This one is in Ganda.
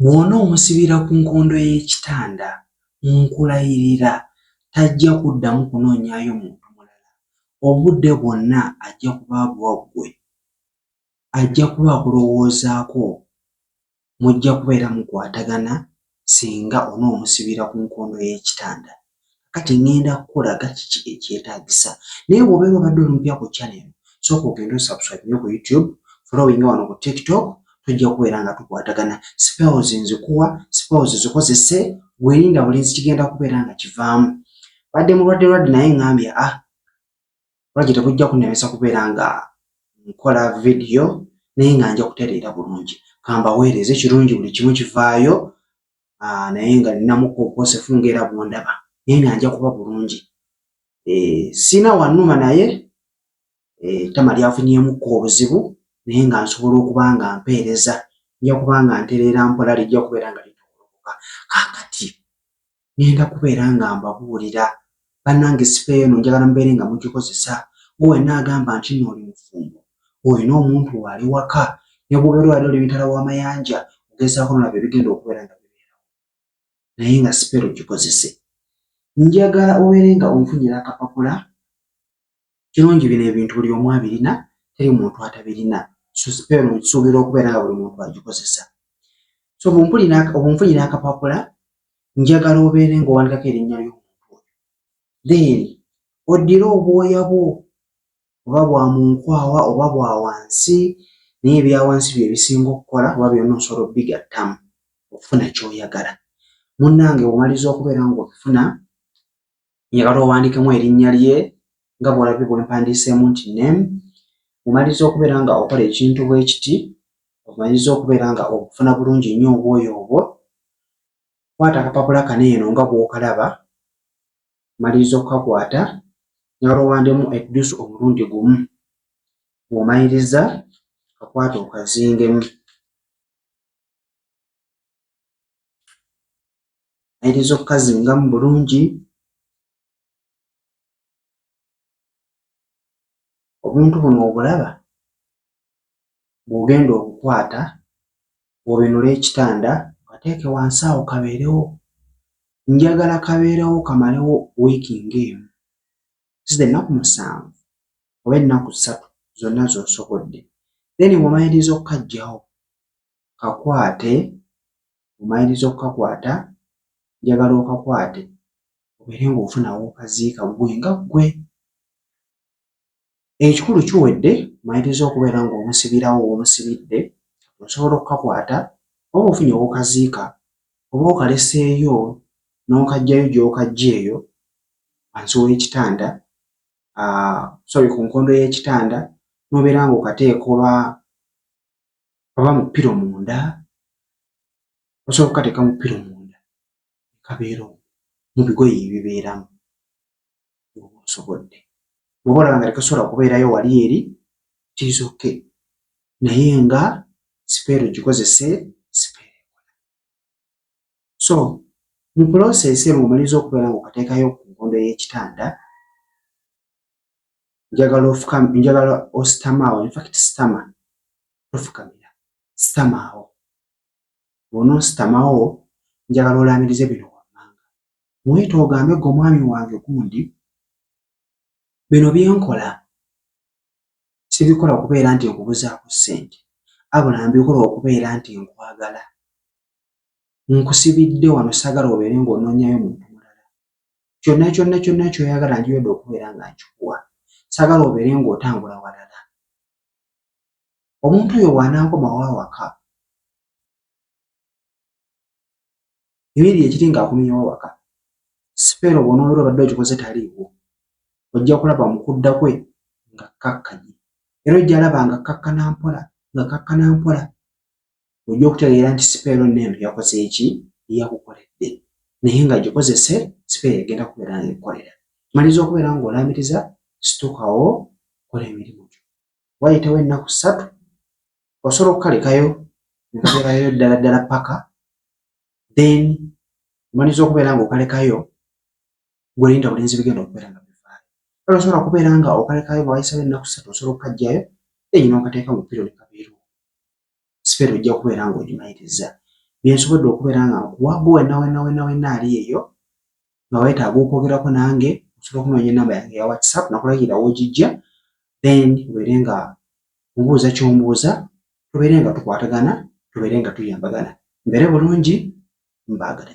Bw'onoomusibira ku nkondo y'ekitanda, nkulayirira tajja kuddamu kunoonyaayo muntu mulala. Obudde bwonna ajja kuba abuwa ggwe. Ajja kuba akulowoozaako. Mujja kubeera mukwatagana singa onoomusibira ku nkondo y'ekitanda. kati ŋŋenda kukulaga kiki ekyetaagisa naye bw'obeera obadde olumpya ku channel sooka ogende osubscribe nyo ku youtube following wano ku tiktok tujja kubeera nga tukwatagana spells nzikuwa spells zikozese gwerinda bulinzi kigenda kubeera nga kivaamu badde mulwadde lwadde naye ŋŋambye ah lwaki tekujja kunemesa kubeera nga nkola vidiyo naye nga nja kutereera bulungi kambaweereza ekirungi buli kimu kivaayo ah, naye nga ninamuka obwosefu ngaera bwondaba naye nga nja kuba bulungi eh, sina wanuma naye eh, tama lyafunyemukka obuzibu naye nga nsobola okuba nga mpeereza nja kuba nga ntereera mpola lijja kubeera nga litokolokoka kakati ngenda kubeera nga mbabuulira bannange sifeeyo no njagala mubeere nga mugikozesa gwe wenna agamba nti no oli mufumbo olina omuntu waali waka ne bwobeera wali oli mitala w'amayanja ogezaako nolaba ebigenda okubeera nga bibeerawo naye nga sipeero gikozese njagala obeere nga onfunyira akapapula kirungi bino ebintu buli omu abirina teri muntu atabirina suubira okubeera nga buli muntu agikozesa so obunfunira akapapula njagala obeere ngaowandikako erinnya ly'omuntu oyo then oddire obwoya bwo oba bwa munkwawa oba bwa wansi naye ebyawansi bye bisinga okukola oba byonna osobola obigattamu okufuna kyoyagala munnange omaliza okubeera ngaobifuna njagala owandiikemu erinnya lye nga bw'olabye bwe mpandiiseemu nti name omaliza okubeera nga okola ekintu bwe kiti omaliza okubeera nga okufuna bulungi nnyo obwoyo obwo kwata akapapula kano eno nga bw'okalaba maliriza okukakwata njagala owandemu eddusu omulundi gumu bw'omaliriza kakwata okazingemu ayinza okukazingamu bulungi obuntu buno obulaba bw'ogenda okukwata obinule ekitanda kateeke wansi awo kabeerewo njagala kabeerewo kamalewo wiiki ng'emu zize ennaku musanvu oba ennaku ssatu zonna z'osobodde then bw'omaliriza okukajjawo kakwate omaliriza okukakwata njagala okakwate obeere ng'ofuna w'okaziika ggwe nga ggwe. Ekikulu kiwedde omaliriza okubeera ng'omusibirawo w'omusibidde osobola okukakwata oba ofunye w'okaziika oba okaleseeyo n'okaggyayo gy'okaggya eyo wansi w'ekitanda ah, sorry ku nkondo y'ekitanda n'obeera ng'okateeka oba oba mu piro munda osobola okukateeka mu piro munda kabeera omu mu bigoye ebibeeramu oba osobodde oba olaba nga tekasobola kubeerayo wali eri tizoke naye nga sipeero gikozese sipeero ekola so mu puloseesi emu omaliza okubeera nga okateekayo ku nkondo y'ekitanda njagala ofukame njagala ositamaawo infact sitama tofukamira sitamaawo bwona ositamaawo njagala olaamirize bino wammanga muyita ogambe gwe omwami wange gundi bino byenkola sibikola okubeera nti nkubuzaako ssente abula mbikola okubeera nti nkwagala nkusibidde wano sagala obeere ng'onoonyayo muntu mulala kyonna kyonna kyonna kyoyagala ndiyodde okubeera nga nkikuwa sagala obeere ng'otambula walala omuntu oyo bw'anankomawo awaka ebiri ekiri ng'akuminyawo awaka sipeera obwonoobera obadde okikoze taliiwo ojja kulaba mu kudda kwe nga kkakkanye era ojja alaba nga kkakkana mpola nga kkakkana mpola ojja okutegeera nti sipeero neeno yakoze eki yakukoledde naye nga gikozese sipeero egenda kubeera nga ekukolera maliza okubeera nga olambiriza situkawo kola emirimu gyo wayitawo ennaku ssatu osobola okukalekayo nekabeerayo ddala ddala paka then maliza okubeera nga okalekayo gwelinda bulinzi bigenda okubeera nga bivaayo kale osobola kubeera nga okalekayo nga wayisawo ennaku ssatu osobola okukajjayo enyina okateeka mu piro nekabeerawo sipeera ojja kubeera ng'ogimayiriza byensobodde okubeera nga nkuwago wena wena wena wena ali eyo nga wetaaga okwogerako nange osobola okunoonya enamba yange ya whatsapp nakulagira wogijja then obeere nga mubuuza kyombuuza tubeere nga tukwatagana tubeere nga tuyambagana mbeere bulungi mbaagala